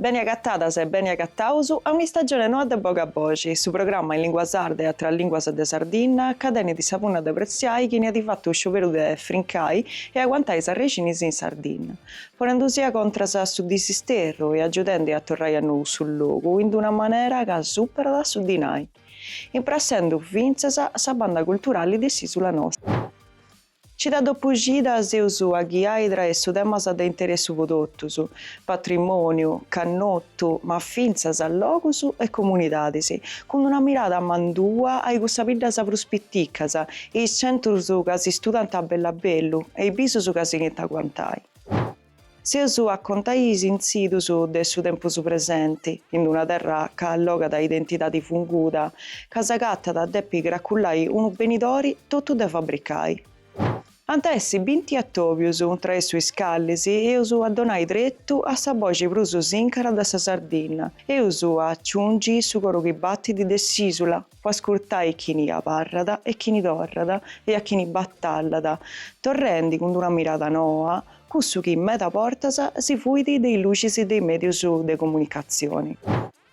Beni agatadas e beni agataus a un'istagione noa de Boga Boxi, su programma in lingua sarda e atras linguas de Sardinna ca tenit sa punna de pretziai chini at fatu scioberu de frincai e aguantai s'arrexinis in Sardinna, ponendusì a contras a su disisterru e agiudendi a torrai a nou su logu in d'una manera ca superat su dinai. imprassendu fintzas sa banda culturali de s'Isula Nostra. Cida dopu cida s'eus a ghiai traessu temas de interessu po totus, patrimoniu, cannottu, ma fintzas logus e comunidadis, cun una mirada mandua a icussas biddas prus piticas, e is centrus ca si studant bellu a bellu e is bisus ca sighint a aguantai. S'eus a contai is intzidus de su tempus presenti, in una terra ca allogat identidadi funguda, ca s'agatat a depi craculai unu benidori totu de fabricai. Ant a essi binti atobius, traessu is calis, eus a donai tretu a sa boxi prus sincara de sa Sardinna, eus a aciungi su coru chi battit de s'isula, po ascurtai chini abarrat e chini torrat e a chini batallat, torrendi cun d'una mirada noa cussu chi meda bortas si fuit de is lucis de is medius de comunicatzioni.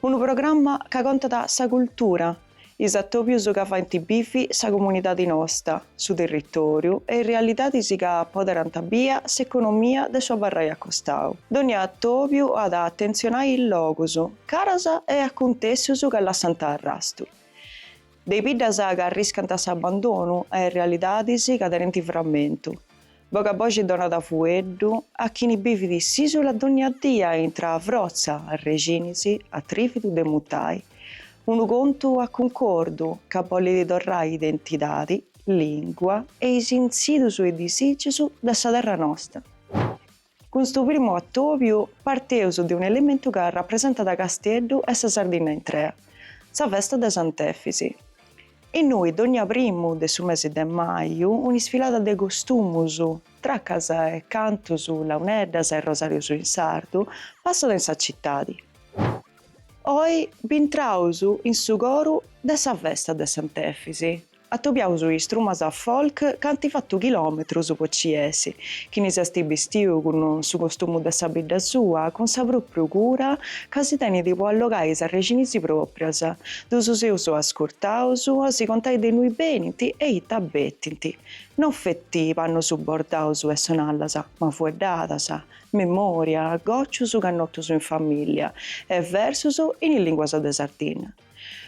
Unu programma ca contat sa cultura, is atobius ca faint bivi sa comunidadi nosta, su territoriu e is realidadis ca apoderant bia s'economia de su abarrai acostau. Dònnia atobiu at a atentzionai is logus, Caras e acuntèssius ca lassant arrastu. De biddas ca arriscant s'abandonu a is realidadis ca tenint framentu. Boga boxi donat fueddu a chini bivit s'ìsula dònnia dia intra frotza, arrexinis, atrìvidu de mudai unu contu a cuncordu ca bolit torrai identidadi, lìngua e is intzidus e disìgius de sa terra nosta. Cun stu primu atòbiu parteus de un'elementu ca rapresentat Casteddu e sa Sardinna intrea, sa festa de Sant'Efis. Innui dònnia primu de su mesi de maju un'isfilada de costumus, tracas e cantus, launeddas e rosàrius in sardu, passat in sa citadi. Oi bintraus in su coru de sa festa de Sant'Efis, Atobiaus is trumas folk ca ant fatu chilòmetrus po ci essi. Chini s'est bistiu cun su costumu de sa bidda sua, cun sa pròpriu cura ca si tenit po allogai is arrexinisi pròprias. Ddus eus ascurtaus a si contai de innui benint e ita betint. No feti pannus bordaus e sonallas, ma fueddadas, memòria, gòcius cannotus in famìllia e versus in is lìnguas de Sardinna.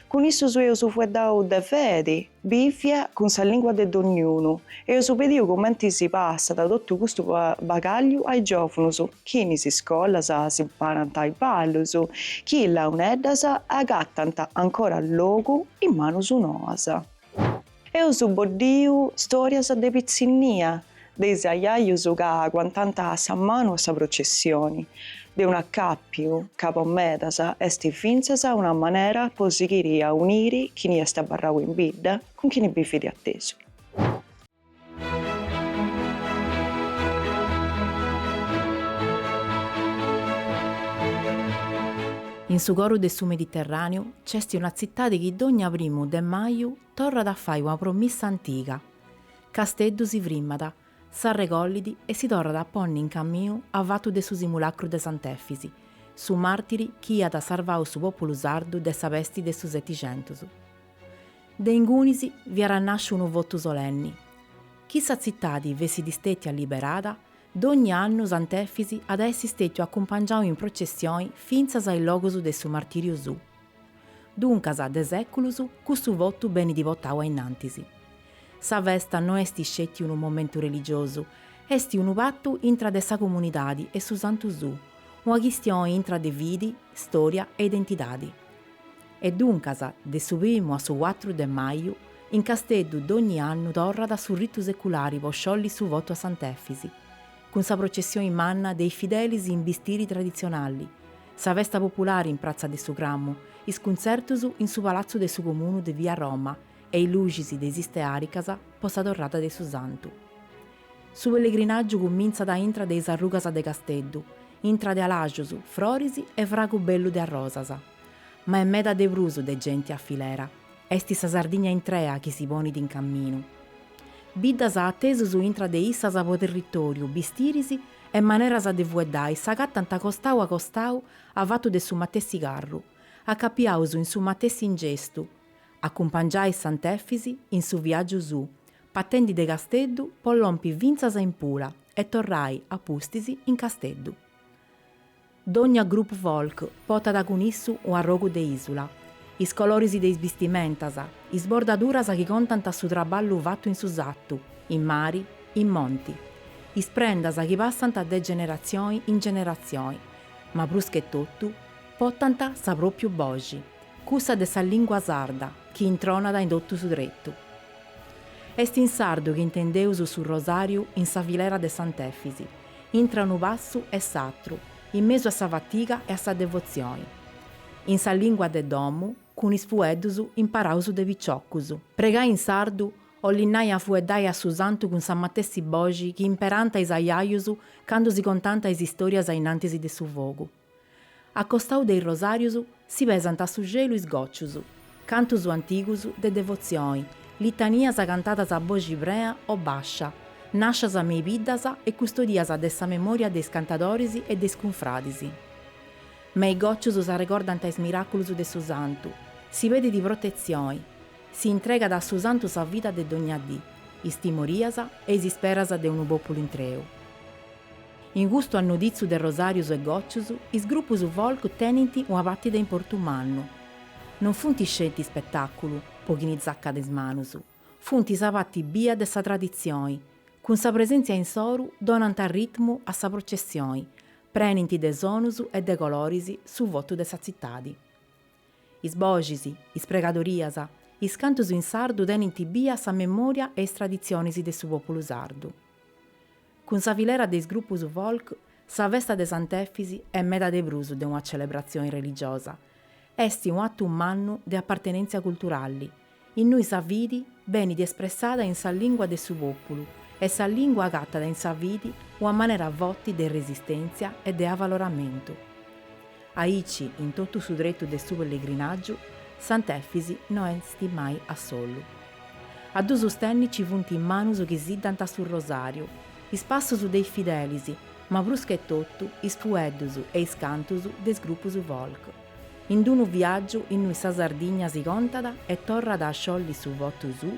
Cun issus eus fueddau de fedi bìvia cun sa lingua de dogniunu, eus pediu cumenti si passat totu custu bagagliu ai giovunus, chi in is scolas imparant is ballus, chi is launeddas agattant ancora logu in manus noas. Eus boddiu stòrias de pitzinnia de is ajajus ca aguantant sa manu a sa processioni, de un acàpiu ca po medas est fintzas una manera po sighiri a uniri chini est abarrau in bidda cun chini bivit atesu. In su coru de su Mediterràneu nc'est una tzitadi chi dogna primu de maju Torrat a fai una promissa antiga. Casteddu si frimmat, s'arregollit e si torrat a ponni in caminu avatu de su simulacru de Sant'Efis, su màrtiri chi iat sarvau su pòpulu sardu de sa pesti de su Setixentus. De ingunis fiat nàsciu unu votu solenni. Chi sa tzitadi fessit stètia liberada, dogni annu Sant'Efis at a essi stètiu acumpangiau in processioni fintzas a is logus de su martìriu suu. Duncas de sèculus custu votu benit portau ainnantis. Sa festa no est isceti unu momentu religiosu, est unu patu intra de sa comunidadi e su Santu suu, una chistioni intra de fidi, storia e identidadi. E duncas, de su primu a su cuatru de maju, in Casteddu dogni annu torrat su ritu seculari po sciolli su votu a Sant'Efis, cun sa processioni manna de is fidelis in bistiri traditzionali, sa festa populari in pratza de su Cramu, is cuntzertus in su palatzu de su Comunu de via Roma e is luxis de is istearicas po sa torrada de su Santu. Su pellegrinàgiu cumintzat aintru de is arrugas de Casteddu, intra de alaxus, froris e fragu bellu de arrosas. Ma est meda de prus de genti a filera, est sa Sardigna intrea chi si ponit in caminu. Biddas atesus intra de issas po territoriu, bistiris E maneras de fueddai s'agatant costau a costau avatu de su matessi carru, acapiaus in su matessi ingestu, acumpangiai Sant'Efis in su viàgiu suu, patendi de Casteddu po lompi fintzas in Pula e torrai, a pustis, in Casteddu. Dogna grupu folk potat cun issu un'arrogu de isula, is coloris de is bistimentas, is bordaduras chi contant su traballu fatu in su satu, in mari, in monti. Is prendas chi passant de generatzioni in generatzioni, ma prus che totu, potant sa propiu boxi, cussa de sa lingua sarda chi intronat in totu su tretu. Est in sardu chi intendeus su rosariu in sa filera de Sant'Efisi, intra unu passu e s'atru, in mesu a sa fatiga e a sa devotzioni, in sa lìngua de domu, cun is fueddus imparaus de piciocus. Pregai in sardu 'olit nai a fueddai a su Santu cun sa matessi boxi chi imperànta is aiaius candu si contànta is istòrias ainnantis de su fogu. A costau de is rosàrius si pesant a su celu is gòcius, cantus antigus de devotzioni, litanias cantadas a boxi prea o bàscia, nàscias me i biddas e custodias de sa memòria de is cantadoris e de is cunfradis. Me i gòcius s'arregordant is miràculus de su santu, si pedit protetzioni, si intregat a su santu sa vida de dogna dì, is timorias e is isperas de unu pòpulu intreu. In custu annoditzu de rosàrius e gòcius, is grupus folk tenint una parti de importu mannu. Non funt sceti ispetàculu po chini tzacat is manus, funt sa parti bia de sa traditzioni, cun sa presèntzia insoru donant ritmu a sa processioni, prenint de sonus e de coloris su votu de sa tzitadi. Is boxis, is pregadorias, is cantus in sardu tenint bia sa memòria e is traditzionis de su pòpulu sardu. Cun sa filera de is grupus folk, sa festa de Sant'Efis est meda de prus de una celebratzioni religiosa, est un'atu mannu de apartenèntzia culturali, innui sa fidi benit espressada in sa lìngua de su pòpulu e sa lìngua agatat in sa fidi una manera foti de resistèntzia e de avaloramentu. Aici, in totu su tretu de su pellegrinàgiu, Sant'Efis no est mai a solu. A ddu sustenni nci funt is manus chi siddant su rosàriu, is passus de is fidelis, ma pruschetotu is fueddus e is cantus de is grupus folk. In d-unu viàgiu innui sa Sardigna si contat e torrat a sciolli su votu suu,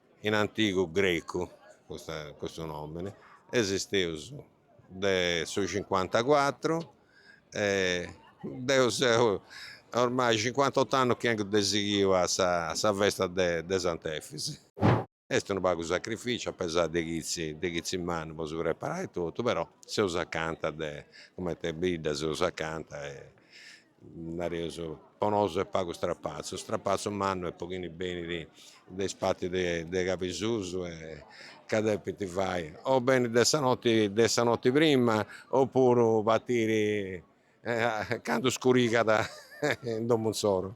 In antigu grecu custa custu nomini esisteus de su cincuantacuatru e deu seu ormai cincuantottu annus chi 'engu de sighiu a sa a sa festa de de Sant'Efis. Est unu pagu sacrificiu a pesai de chitzi de chitzi mannu po su preparai totu però seus acanta de cumenti a bidda seus acanta e nareus po nosu est pagu strapatzu, strapatzu mannu e po chini benit de is partis de Cabisusu e ca depint fai o benni de sa noti de sa noti prima opuru partiri candu scurigat in domu insoru.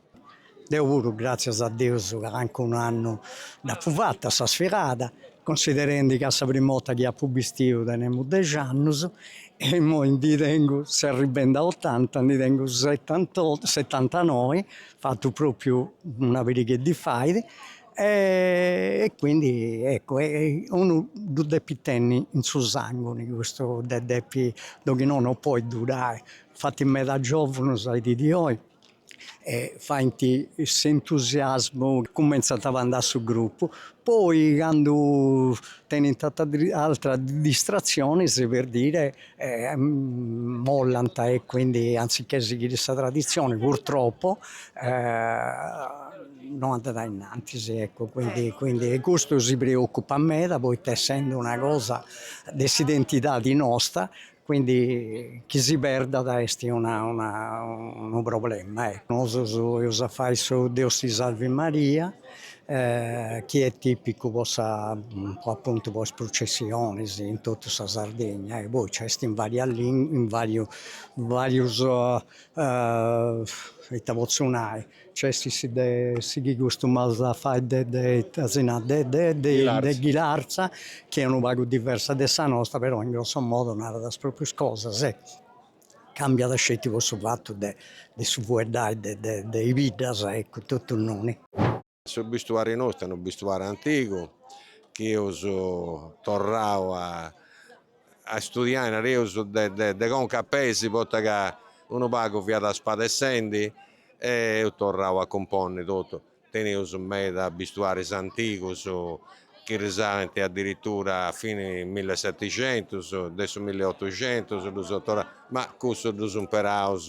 Deo puru gràtzias a Deus ca ancora un'annu dd'apu fata sa sfirada, considerendi ca sa prima 'orta chi apu bistidu tenemu dexi annus e imoi ndi tengu s'arribend'a otanta, ndi tengu setantotto setantanoi, fatzu propriu una parighedda 'e fai e quindi eccu unu ddu depit tenni in su sangoni custu, ddu depit, de chi nono no podit durai, infati meda giovunus a dì de oi e faint s'entusiasmu, cumentzant a andai a su grupu, poi candu tenint atras distratzionis per dire mollant e quindi anzichè sighiri sa traditzioni purtroppo no andat a innantis ecco, quindi quindi e custu si preoccupat meda poita essendi una cosa de s'identidadi nosta Quindi chi si perdat est una una unu problema ecco. Nosus eus a fai su Deus si salvit Maria chi est tipicu po sa po appuntu po is prucessionis in totu sa Sardegna e poi nci est in varias lin in variu varius ita potzu nai C'est su de si chi custumaus a fai de de Desina de de de de ghilarza, chi est unu pagu diversa de sa nosta, però in grosso modo narant is proprius cosas e cambiat sceti po su fatu de de su fueddai de de de is biddas, eccu, totu innoi. Su bistuari nostu est unu bistuari antigu chi eus torrau a a istudiai, nareus, de de de conca a peis, poita ca unu pagu fiat spadessendi E eus torrau a cumponni totu, teneus meda bistuaris antigus chi risalint adiritura a fini millisetixentus, de su milliotuxentus ddus eus torraus, ma cussus ddus imperaus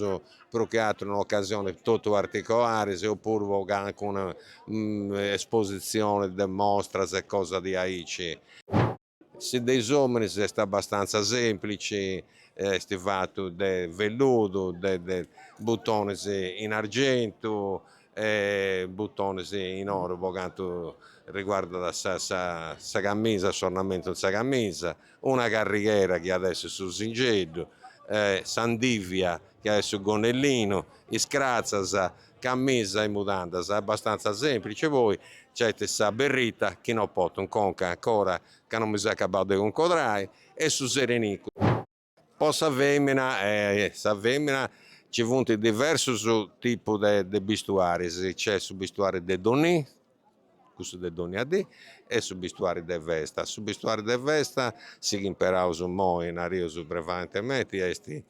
prus che ateru in ocasionis totu particularis opuru po calincuna espositzioni de mostras e cosa de aici. Su de is ominis est abastanza semplici, est fatu de velludu, de butonis in argentu e butonis in oru po cantu riguardat sa camisa, s'ornamentu in sa camisa, una carrighera chi at essi su singeddu, s'andivia chi at essi su gonnellinu, is cratzas Camisa e mudandas abbastantza semplice poi nc'est sa berrita chi no poto in conca ancora ca no mi seu acabau de cuncordai e su serenicu. Po sa femina sa femina ci funt diversus tipus de bistuaris, nc'est su bistuari de donnì, cussu de dònnia dì e su bistuari de festa. Su bistuari de festa, su chi imperaus imoi, nareus prevalentementi, est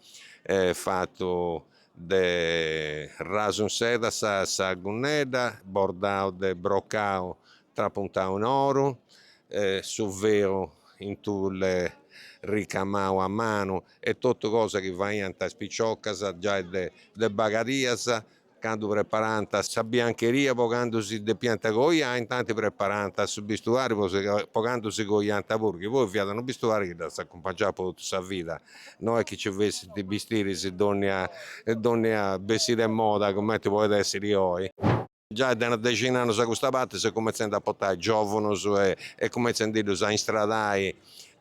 fatu de rasu in seda sa sa gunnedda, bordau de brocau trapuntau in oru, su velu in tulle ricamau a manu e totu cosa chi faiant is piciocas giai de bagadias Candu preparànt sa biancheria po candu si depiant coiai intanti preparànt su bistuari po candu si coiànt puru chi poi fiat unu bistuari chi ddas acumpangiàt po totu sa vida no est chi nci fessint bistiris dònnia dònnia bessida e moda cumenti podit èssiri oi. Giai de una dexina 'e annus a custa parti s'est cumentzendi a portai giòvunus e cumentzendi·ddus a istradai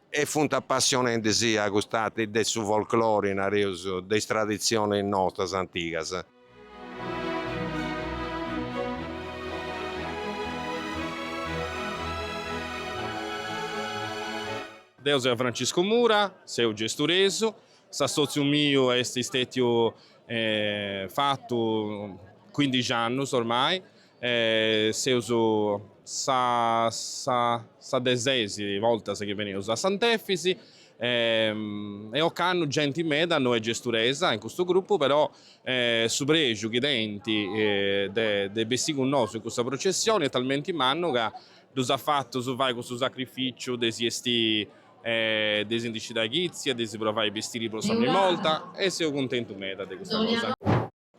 E funt apassionendi·sì a cust'arti de su folklori, nareus, de is traditzionis nostras antigas. Deu seu Franciscu Mura, seu gesturesu. S'assòtziu miu est stètiu fatu cuindixi annus ormai. E seus sa de ses bortas chi beneus a Sant'Efis e ocannu genti meda no est gesturesa in custu grupu però su prexu chi tenint de bessì cun nosu in cussa processioni est talmenti mannu ca ddus at fatu fai cussu sacrificiu de si esti de si ndi scidai chitzia de si provai bistiris po sa prima borta e seu cuntentu meda de custa cosa.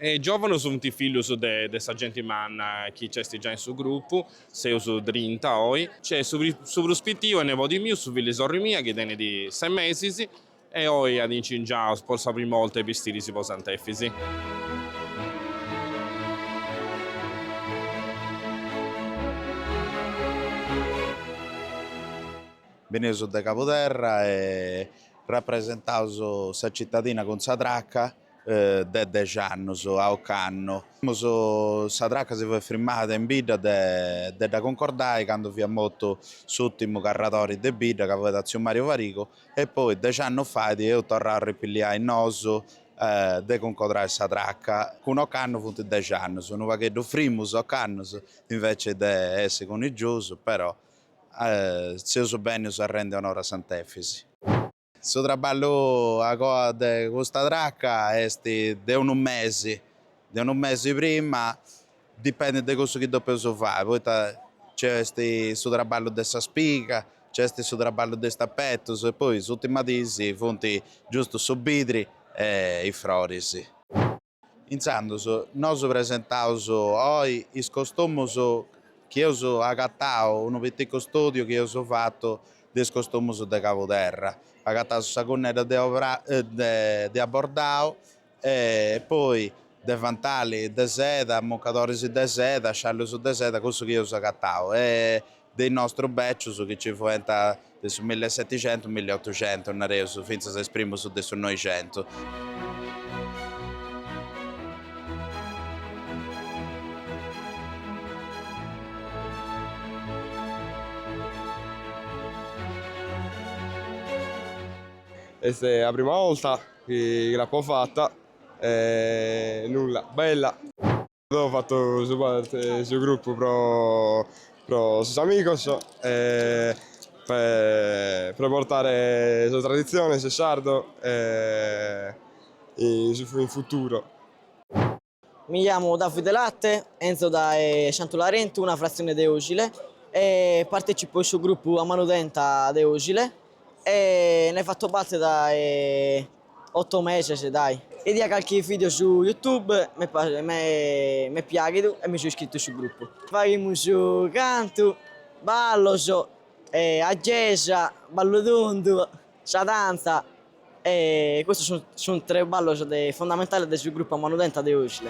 Is giòvanus funt fillus de de sa genti manna chi nc'est giai in su grupu, seus trinta oi. Nc'est su prus pitiu est nebodi miu, su fillu 'e sorri mia, chi tenit ses mesis e oi at incingiau po sa primu 'orta is bistiris po Sant'Efisi. Beneus de Cabuderra e rapresentaus sa citadina cun sa traca. de dexi annus a ocannu. Immus sa traca si fut firmada in bidda de de dda cuncordai candu fiat mortu s'ùrtimu carradori de bidda ca fuat tziu Màriu Farigu e poi dexi annus fait eus torrau a ripilliai nosu de cuncodrai sa traca cun ocannu funt dexi annus, unu pagheddu frimus ocannu invècias de essi cunigiosu però seus bennius a rendi onori a Sant'Efisi. Su traballu a coa de custa traca est de unu mesi, de unu mesi prima, dipendit de cussu chi depeus fai, poita nci est su traballu de sa spiga, nci est su traballu de is tapetus e poi s'ùrtima dis funt giustu su bidri e is froris. Intzandus nosu presentaus oi is costumus chi eus agatau, unu piticu studiu chi eus fatu de is costumus de Cabuderra. Agataus sa cunnedda de abordau e poi deventali de seda, mucadoris de seda, sciallius de seda, cussu chi eus agatau e de is nostrus bècius chi nci fuent de su milli e seticentus, milli e otucentus, nareus, fintzas is primus de su Noixentu. Est sa prima 'olta chi l'apo fata e nulla, bella. fatu parte 'e su grupu pro sos amigos pro portare sa traditzione su sardo in futuro. Mi chiamo Davide Latte, 'enzo dae Santu Larentu, una fratzione de Osile, e partecipo in su grupu A Manu Tenta de Osile e ne fatto parte dae Otto meses dai. 'Idia calchi video su youtube m'est piaghidu e mi so iscritu in su gruppu. Faghimus su cantu, ballos, aggesa, ballu tundu, sa dantza e custos sunt tres ballos fundamentales de su gruppu A Manu Tenta de Osile.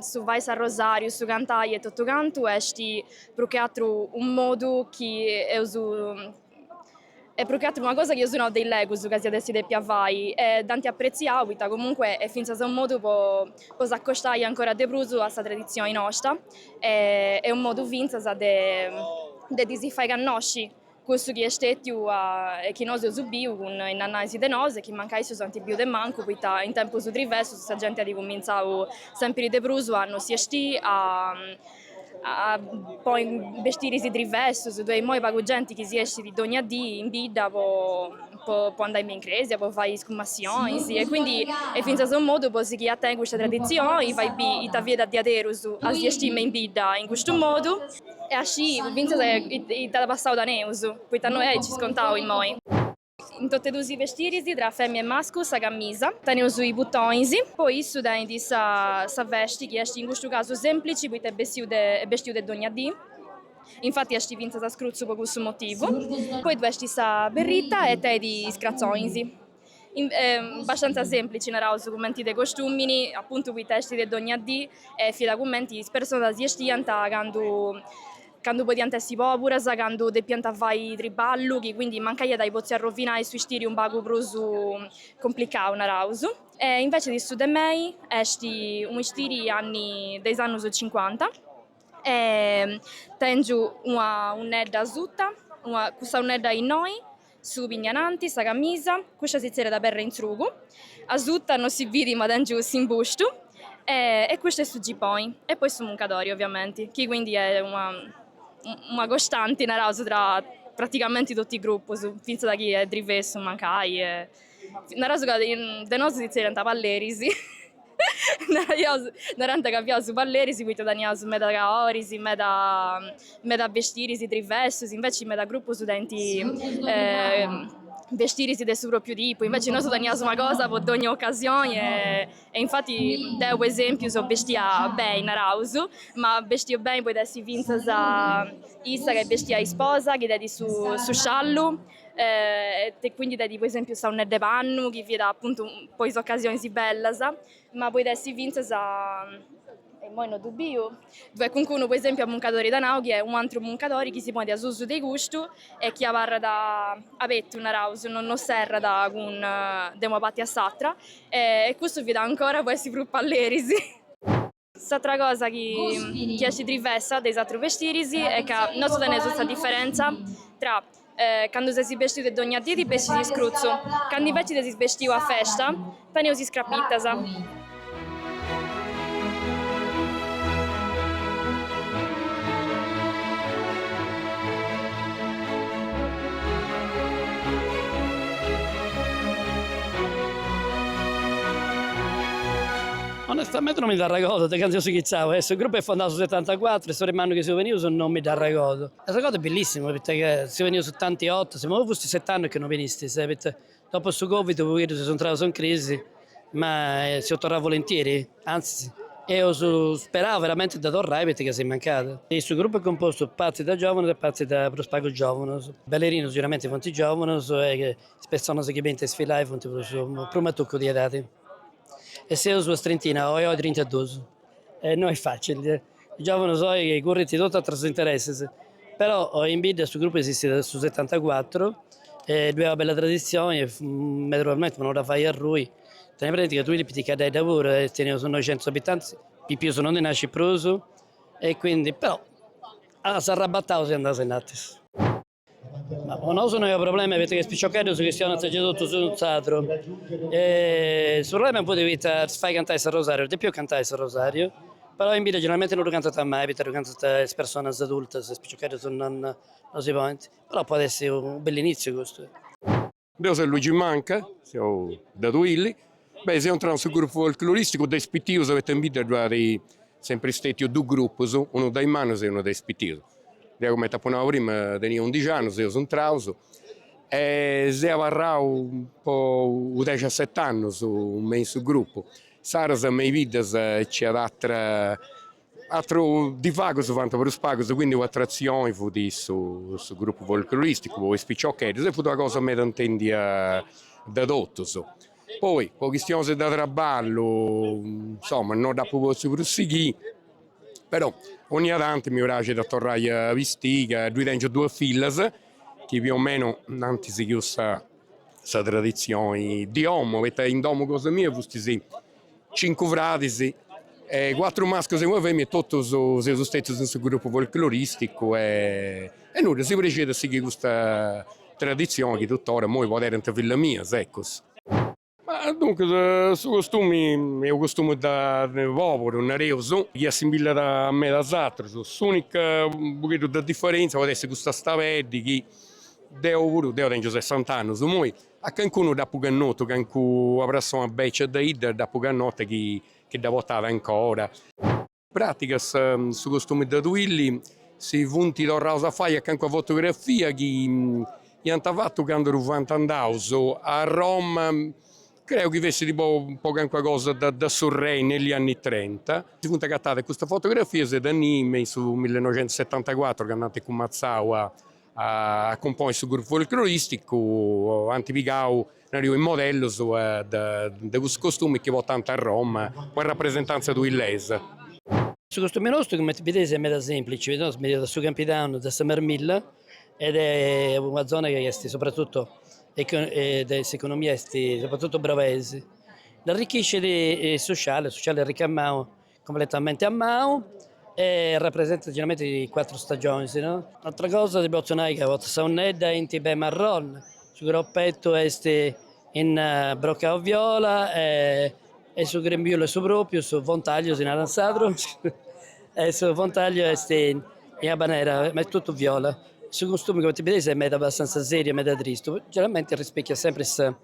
Su fai s'arrosàriu, su cantai e totu cantu est prus che àteru unu modu chi eus, est prus che àteru una cosa chi eus nau de illegus ca s'iat essi dèpia fai e dd'ant apretziau poita comunque est fintzas unu modu po s'acostai ancora de prus a sa traditzioni nosta e unu modu fintzas de ddi si fai connosci. Cussu chi est stètiu e chi nosu eus biu cun is ajajus de nosu e chi mancai issus ant biu de mancu poita in tempus drivessus sa genti at cumintzau sèmpiri de prus a no si 'esti a a ponni bestiris drivessus ddoi est immoi pagu genti chi si 'estit dogna dì in bidda po andai me in crèsia po fai is cumassionis e quindi est fintzas unu modu po sighì a tenni custa traditzioni fai bì ita fiat diaderus a si 'esti me in bidda in custu modu E a scii fintzas ita passau teneus, poita non si nci scontaus immoi. In totu e dus is bestiris, tra femia e mascu, sa camisa, teneus is butonis, poi issu tenit sa vesti chi est in custu casu semplici poita est bestiu de bestiu de dogna dì, infati est fintzas scrutzu po cussu motivu, poi ddu est sa berrita e tenit is cratzonis. Bastantza sèmplici, naraus cumenti de costùmini, apuntu poita est de dònnia dì e fiat cumenti is personas si estiant candu candu podiant essi pòburas, candu depiant fai triballu, chi quindi mancai iat a potzi arrovinai su istiri unu pagu prus cumplicau, naraus. E invecias su de mei est unu istiri anni de is annus cincuanta e tengiu una unnedda asuta, una cussa unnedda innoi Su pignananti, sa camisa, custa si tzerriat perra in tzrugu, asuta no si bit ma tengiu s'imbustu e custu est su giponi e poi su muncadori oviamenti chi quindi est una una costanti naraus tra pratigamenti totu is grupus fintzas chi est drivessu mancai e Naraus ca de nosu si tzerriànt palleris, narànt ca fiaus palleris poita teniaus meda caoris, meda meda bestiris driversus, inveci meda grupus tenint bestiris de su pròpriu tipu, inveci nosu teniaus una cosa po dogni ocasioni e infati deu po esempiu seu bestia beni, naraus, ma bestiu beni podit essi fintzas issa ca est bestia isposa chi tenit su sciallu e quindi tenit po esempiu sa unnedda 'e pannu chi fiat apuntu po is ocasionis bellas, ma podit essi fintzas immoi no ddu biu, ddu est calincunu po esempiu a muncadori tanau chi est u' atru muncadori chi si ponit asusu de custu e chi abarrat abetu naraus, no no serrat cun de una parti a s'atra e custu fiat ancora po essi prus palleris S'atra cosa chi chi est drivessa de is atru bestiris est ca nosu teneus sa diferentza tra candu ses bestiu de dogna dì ti bestis iscrutzu, candu inveci ses bestiu a festa teneus is crapittas. Onestamente no mi dd'arregodu de candu eus inghitzau e su grupu est fondau su setantacuatru e su primu annu chi seus benius no mi dd'arregodu. S'arregodu est bellissimu poita ca seus benius tanti 'otas, imoi fustis set'annus chi no binistis poita dopu su covid u' pogheddu seus intraus in crisi ma seus torraus volentieri, antzis eus sperau veramenti de torrai poita ca si mancada. Su grupu est compostu partis de giovunus e partis de prus pagu giovunus, ballerinus siguramenti funt giovunus e is personas chi benint a isfilai funt prus prus matucu de edadi. e seus una trintina oi oi trinta e duus e no est facili de, is giòvanus oi chi currint totu aterus intereses, però in bidda su gruppu esistit de su setantacuatru e ddoi est una bella traditzioni e meda probabilmenti po no dda fai arrui, tenni presenti ca Tuili est piticheddedda puru e teneus noixentus abitantis, pipius no ndi nascit prus e quindi però s'arrabataus e andaus innantis. Ma po nosu no est u problema poita chi is piciocheddus chistionant gei totus in sardu. Su problema impudu poita ddus fait cantai s'arrosariu, depiu cantai s'arrosariu, però in bidda generalmenti no ddu cantant mai poita ddu cantant is personas adultas, is piciocheddus non non si ponint, però podit essi u bell'initziu custu Deu seu Luigi Manca, seu de Tuilli, beh seu intrau in su grupu folcloristicu de is pitius poita in bidda ddu at sempri stetiu dus grupus, unu de is mannus e unu de is pitius. Deu cumenti apu nau prima tenia undixi annus seus intraus e seu abarrau po u' dexaset'annus me in su grupu. Insaras me is biddas nci iat atera Atru divagus fant prus pagus, quindi un'atratzioni fut su, su grupu folcloristicu po is piciocheddus e fut una cosa meda intendia de totus. Poi po chistionis de traballu insoma no dd'apu potziu prus sighì, però onnia tanti mi praxit a torrai a bistiri ca ddui tengiu duas fillas chi più o meno nd'ant sighiu sa traditzioni de domu, poita in domu cosa mia fustis Cincu fradis, cuatru mascus e una femina e totus seus stetius in su grupu folcloristicu e nudda, si praxiat a sighi custa traditzioni chi tuttora immoi poderant fillas mias, ecus. Ma duncus su costumi est u' costumu de de poburu, nareus, chi assimbillat a medas atrus, s'unica u' pogheddu de differenzia podet essi custa stabeddi chi deu puru, deu tengiu sessant'annus immoi, A cancunu dd'apu cannotu, cancu una prassona bècia de idda dd'apu cannota chi dda portat ancora. In pràtica, su costumi de Tuilli, si funt torraus a fai a cancu fotografia chi iant fatu candu ddu fuant andaus a Roma, creu chi fessit po cancuna cosa de su rei negli anni trenta. Si funt agatadas custas fotografias e de innì me in su millinoixentusetantacuatru candu ant cumatzau a A cumponi su grupu folcloristicu ant pigau, nariu, is modellus de cussu costumi chi portant a Roma po sa rapresentanzia tuillesa. Su costumi nostu, cumenti bideis, est meda semplici, poita nosu benius de su Campidanu de sa Marmilla ed est una zona chi est sopratutu de s'economia est sopratutu brabeis, dd'arrichiscit su sciallu, su sciallu est ricamau Completamente a manu e rapresentat generalmenti cuatru stagionis. Un'atra cosa ti potzu nai ca portu sa unnedda in tibet marroni, su cropettu est in brocau viola e su grembiulu est su propriu, su fontagliu si narat in sardu e su fontagliu est in abanera ma est totu viola. Su costumi cumenti bideis est meda abbastanza seriu e meda tristu, generalmenti rispecchiat sempri sa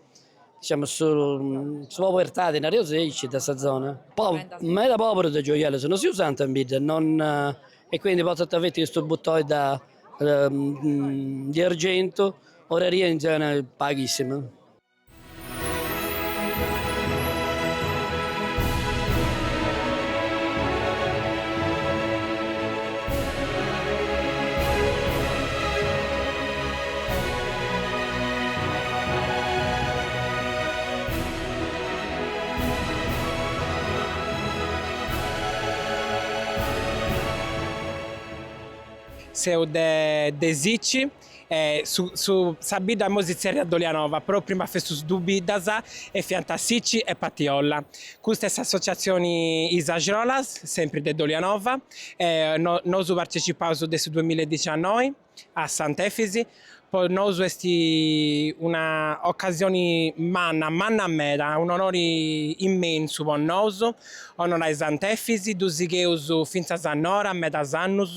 Diciamus su su pobertadi nareus aici de sa zona poi meda poberus de gioiellus no si usant in bidda non e quindi potat feti custu butoi di argentu oraria in zona paghissima. Seu de de Sicci e su su sa bidda moi si tzerriat Dolianova però prima festus du biddas e fiant Sicci e Patiolla. Custa est s'assotziatzioni Is Axrolas, sempri de Dolianova, e no nosu partecipaus de su duamilla e dixiannoi. a Sant'Efisi, po nosu est una ocasioni manna, manna meda, un'onori immensu po nosu onorai Sant'Efisi, ddu sigheus fintzas a Nora medas annus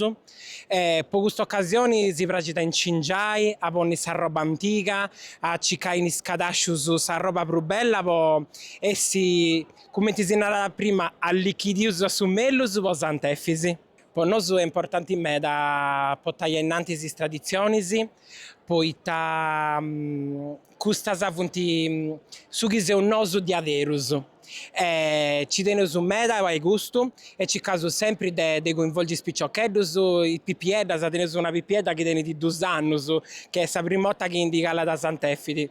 e po custa ocasioni si praxit a incingiai, a ponni s'arroba antiga, a cicai in is cadascius s'arroba prus bella po essi, cumenti si narat prima, allichidius a su mellus po Sant'Efisi. Po nosu est importanti meda potai a innantis is traditzionis poita custas funt su chi seus nosu diaderus e ci teneus meda a fai custu e circaus sempri de de coinvolgi is piciocheddus, is pipieddas, teneus una pipiedda chi tenit dus annus, chi est sa primu 'orta chi ndi calat a Sant'Efisi.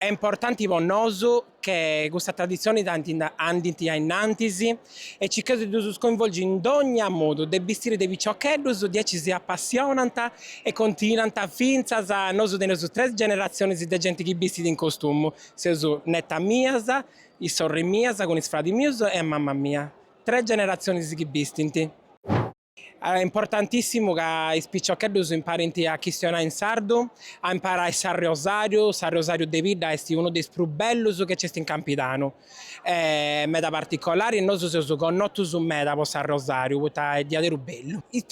Est importanti po nosu chi custas traditzionis andint a innantis e circheus de ddus coinvolgi in dogna modu de bistiri de piciocheddus diaici si apassionant e continuant fintzas nosu teneus tres generatzionis de genti chi bistit in costumu, seus netas mias, is sorris mias cun is fradis mius e a mama mia, tres generatzionis chi bistint. Est importantìssimu ca is piciocheddus imparint a chistionai in sardu, a imparai s'arriosàriu, s'arriosàriu de bidda est unu de is prus bellus chi nc'est in Campidanu, meda particolari, nosu seus connotus meda po s'arriosàriu poita est diaderus bellu. Is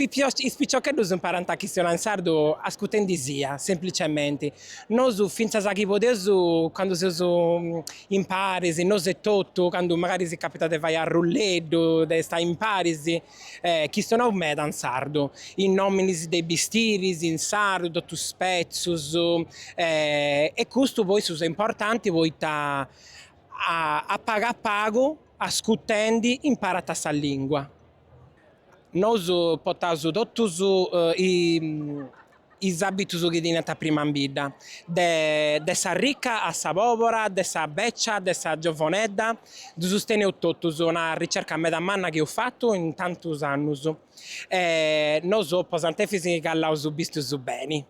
piciocheddus imparant a chistionai in sardu ascutendi sia, semplicementi, nosu fintzas chi podeus candu seus imparis, nosu etotu, candu magari si capitat de fai arrulleddu, de istai imparis, Chistionaus meda in sardu. Is nòminis de is bistiris in sardu totus is petzus e custu po issus est importanti poita a pagu a pagu ascutendi imparant sa lingua. Nosu potaus totus is is abitus chi teniant prima in bidda, de sa rica a sa pobora, de sa becia, de sa giovonedda, ddus teneus totus, una ricerca meda manna chi eus fatu in tantus annus e nosu po Sant'Efis calaus bistius beni,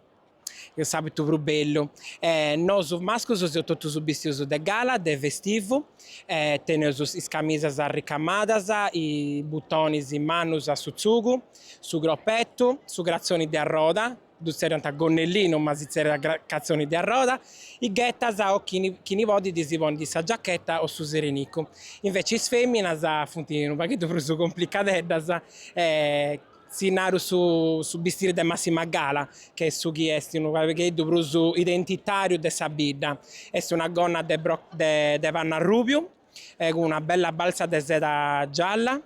s'abitu prus bellu, e nosu mascus seus totus bistius de gala, de festivu, e teneus is camisas arricamadas, is butonis mannus a su tzugu, Su croppettu, su cratzoni de arroda, ddu tzerriant gonnellinu ma si tzerriat cratzoni de arroda, is ghetas o chini podit si ponnit sa giachetta o su serenicu. Invece is feminas funt unu pagheddu prus cumplicadeddas e si naru su bistiri de massima gala che est su chi est unu pagheddu prus identitariu de sa bidda. Est una gonna de pannu arrubiu e cun una bella baltza de seda gialla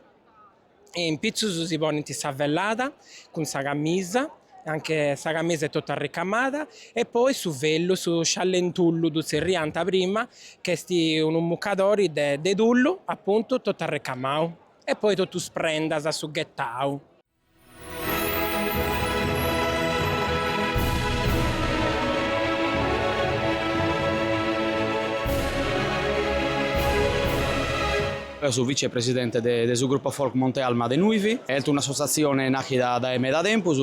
e in pitzus si ponint sa vellada cun sa camisa, anche sa camisa est totu arricamada, e poi su vellu, su sciallentullu ddu tzerriant prima, chi est unu mucadori de de tullu, apuntu, totu arricamau e poi totu is prendas, su ghetau. Eo so vicepresidente de su grupo folk Monte Alma de Nuivi. Est un'assotziatzione nachida dae meda tempus,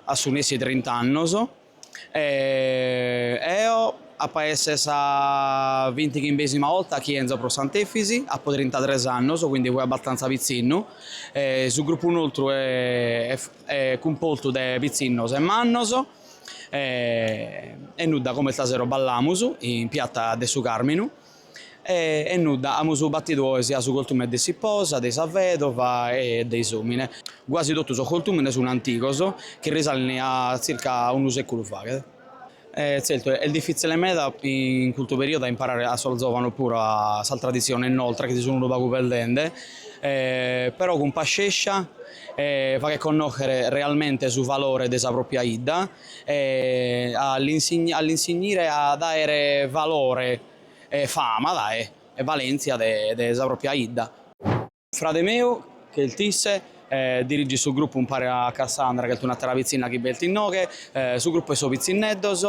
a su nessi trint'annos, E eo apo a esser sa vintighimbesima 'olta chi 'enzo pro Sant'Efisi, apo trintatres annos, quindi fui abastanza pitzinnu. Su grupu nostru est cumpostu de pitzinnos e mannos e nudda, como istasero ballamus in piatta de su Carminu. E nudda, amus batidu oe siat su cortume de s'iposa, de sa vedova e de s'omine. Guasi totu sos cortumene sun antigos, chi risalent a tzirca unu seculu faghet. E tzertu est difitzile meda in custu periodu a imparare a sos zovanos puru a sas traditziones nostras chi si sun unu pagu perdende, e però cun pascescia e faghet connochere realmente su valore de sa propria 'idda. e a l'insignire a daere valore e fama dae e valentzia de sa propria 'idda. Frade meu, ch'elt isse, dirigit su gruppu umpare a Cassandra, ch'elt un'attera pitzinna chi b'est innoghe, su gruppu 'e so pitzinneddos,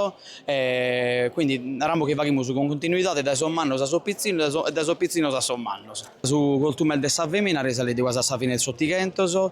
e quindi narammos chi faghimus cun cuntinuidade dae sos mannos a sos pitzinnos e dae sos pitzinnos a sos mannos. Su coltumene de sa femina, risalit guasi a sa fine 'e s'Ottighentos.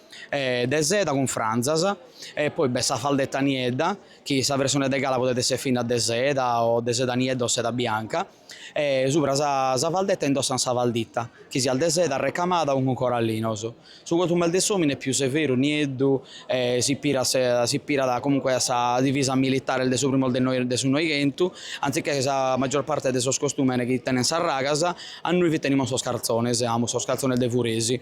e de seda cun franzas e poi b'est sa faldetta niedda chi sa versione de gala podet esser finnas de seda o de seda, niedda o seda bianca e subra sa sa faldetta indossant sa falditta chi siat de seda recamada o cun corallinos. Su costumene de s'omine est pius severu, nieddu e s'ispirat se s'ispirat comunque a sa divisa militare de sos primos de noi de su noighentu anziché sa maggior parte de sos costumenes chi tenent sas ragas a nois fit tenimos sos carzones amus sos carzones de furesi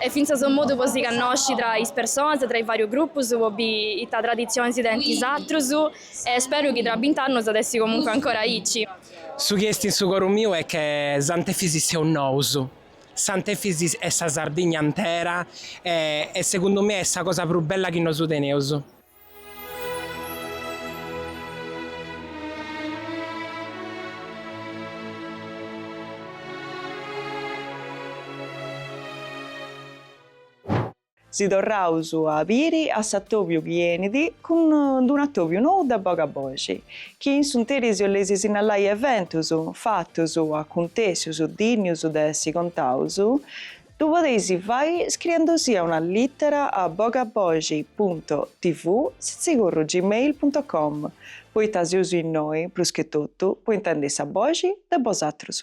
Est fintzas unu modu po si cannosci tra is personas, tra is varius grupus, po bi ita traditzionis tenint is atrus. E speru chi tra bint'annus at essi comunque ancora aici. Su chi est in su coru miu est che Sant'Efis seus nous. Sant'Efis est sa Sardigna intera e segundu me est sa cosa prus bella chi nosu teneus. Si torraus a biri a s'atobiu chi enit cun d'unu atobiu nou de Bogaboxi, chi in s'unteri si 'oleis sinnallai eventus, fatus, acuntèssius, dinnius de essi contaus, Ddu podeis fai scriendusia una lìtera a bogaboxi punto tv sitzigurru gmail punto com, poita seus innoi, prus che totu, po intendi sa boxi de bosatrus.